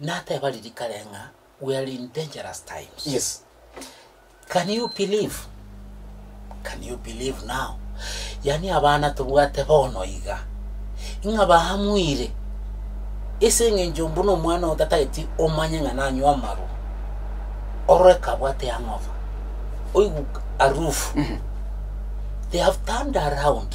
Nateba riria kare ng'a we are in dangerous times. Yes. Can you believe? Can you believe now? Yaani abana tobwate bono iga. Ng'a baamwire. Ese eng'encho mbuna omwana oyo tatageti omanye ng'a nanywa amaru. Orore kabwate hangover. Oigu arufu. They have turned around.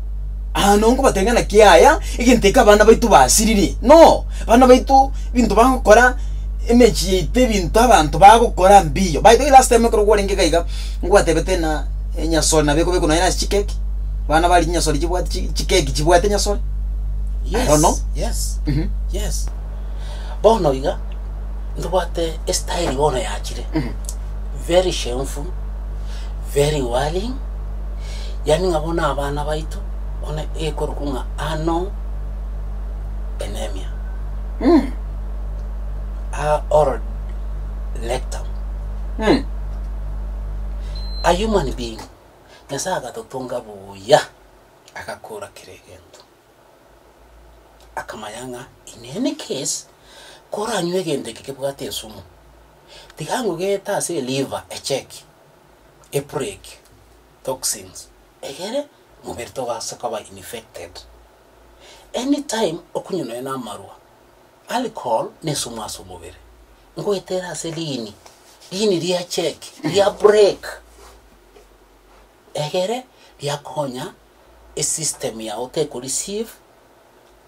Aa nongobateebia ng'a naki yaya, egento eke abana baito basiririe, no abana baito ebinto bagokora, emechie yaito ebinto abanto bagokora mbiyo. By the way last time ekero kwarenge iga iga, ngwateebete ng'a enyasore nabo ekobekwa nonye nase chikeki, abana baria chinyasore chibwate chi chikeki chibwate enyasore, I don't know. Yes, Mhm. yes. Bono iga, ntobwate estyle bono yachire, Mhm. very shameful, very worrying. yaani ng'a bono abana baito bono ekorokwa ng'a Ano Enemia, aa Oral Rectum, a human being, Nyasae agatotonga buya, agakora kera egento, akamanya ng'a in any case koranywe egento eke kebwate esumu, tiga ngogete ase eliver echeki. epreg, toxins, egere mobere togase koba infected. Any time okonywa nonya na amarwa, alcohol nesumu ase omobere, ngoetere ase riini, riini ria check, ria break, egere riakonya esystem yao teko receive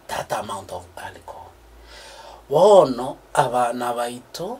that amount of alcohol. Bono abana baito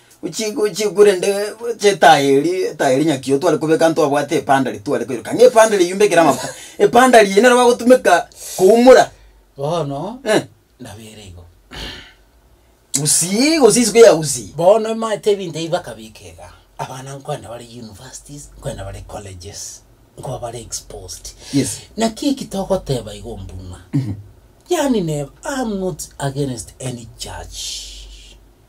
Gochi gochi korende gocha etaya eria etaya eria nyakioo tware kobeka ntwabwate epanda riria tware koiroka ng'a epanda riria yumbe ekere amafuta epanda riria nero bagotumeka koumora Bono eh. nabere igo. Gusii gose isiko ya gusii. Bono emaete ebinto ebi bakabeka iga, abana nkoenda bare universities, nkoenda bare colleges, nkoba bare exposed. Yes. Naki eki togoteba igo mbuna, yaani neba, I am not against any church.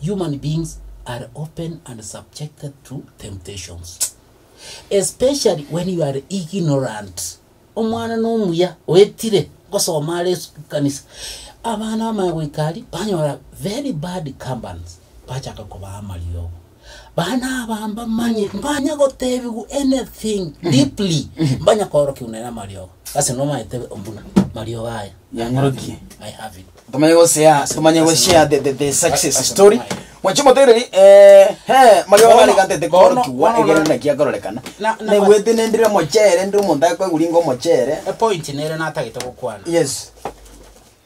Human beings are often and subjected to temptations especially when you are ignorant. Omwana nomuya oetire gosoma are ekanisa. Abana bamaya goika ari banyora very bad companies bachaka kobaa amariogo. Bana aba mbamanye, mbanya gotebigwa anything deeply, mbanya koorokiwa nere amariogo. Ase nomanyete buna mariogo aya. Yang'orokie. I have it. Tomanye go share, tomanye go share the, the, the success story. Mwache motereri, eh, he, mario Bono, gari gantete bono, koro kiwa, bono, egere bono. naki akorekana. Na- na- Negwete nendire mochere, ndire omonto akoiguri ngo mochere. Epoint nere natagete gokwana. Yes.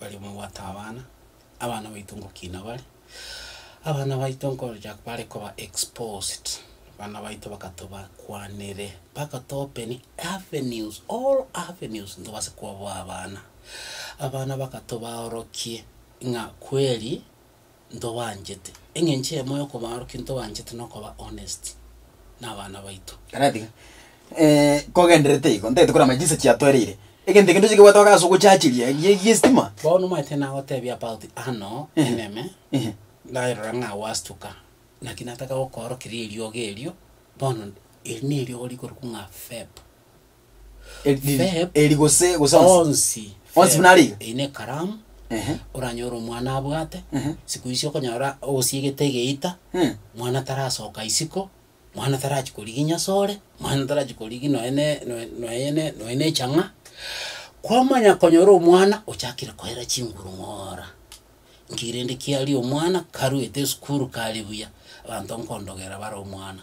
Baria babwate abana, abana baito ngokina bare, abana baito nkoorokia bare koba exposed, abana baito bakatobakwanere, bakatoopeni avenues, all avenues ntobase koboa abana. Abana bakatobaorokie ng'a kweri ntobaanchete. Engencho eyemo y'okobaarokia ntobaanchete nokoba honest nabana baito. Karatiga. Eh, kogendererete igo, ntagete korama chinsa chiatoereire. Egento ekende tochia kobwata ase ogochacheria gie giestima. Bono omanyete nagotebia about ano Ehe. eneme, Ehe. ndarora ng'a gwastuka, naki nataka gokoorokia rieriogo erio, bono eri neriogo rikorokwa ng'a Feb. Feb. eri gose gose onsi onsi Onsi buna ariga? Feb. ine ekaramu Ehe. oranyore omwana abwate Ehe. siku icio okonyora osiegete egeita Eh. mwana tarasoka isiko mwana tarachi korigia nyasore mwana tarachi korigia nonya ne noe noe ne nonya ne echang'a kwamanya konyora omwana ochakire koera chinguru ng'oora nki rende kiaria omwana karuete esukuru kare buya abanto nkondogera bare omwana.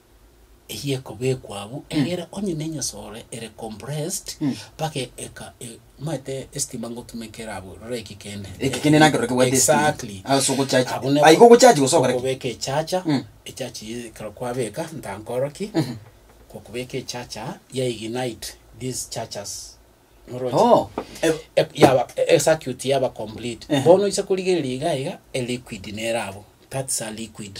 eyio ekobekwa abwo egere onye ne enyasore ere compressed mpaka eka e- maete estima ngotumekera abwo rora eki kende Eki kende nakero kebwate estima. Exactly. Ase ogochachi. Abwo ne- Aye ogochachi gose ogokora ki? okobeka echacha Mm. echacha eye ekero kwabeka ntankoro ki okobeka echacha ya ignite these chargers Oroche? Oh, eh, E- yaba e- ecircuit yaba complete Ehe. bono oise korigereria iga iga eliquid nere abwo that's a liquid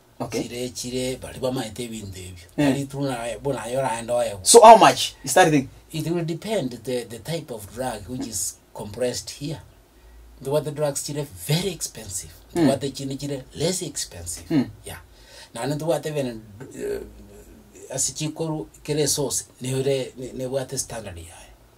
Okay. chire chire baria bamanyete ebinto ebio Eh. nari tu naye bo naye oraende oyegwe So how much is that thing? it will depend the, the type of drug which is compressed here ntobwate drugs chire very expensive ntobwate chinde chire less expensive Mm. yeah naende ntobwate bene eh, ase chikoru kere source nere ne- nebwate standard yaye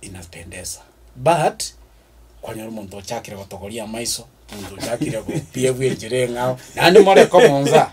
inapendeza but kwanyora omonto ochakire gotogoria amaiso omonto ochakire gopiebwa enchera eng'ao naende more komonsa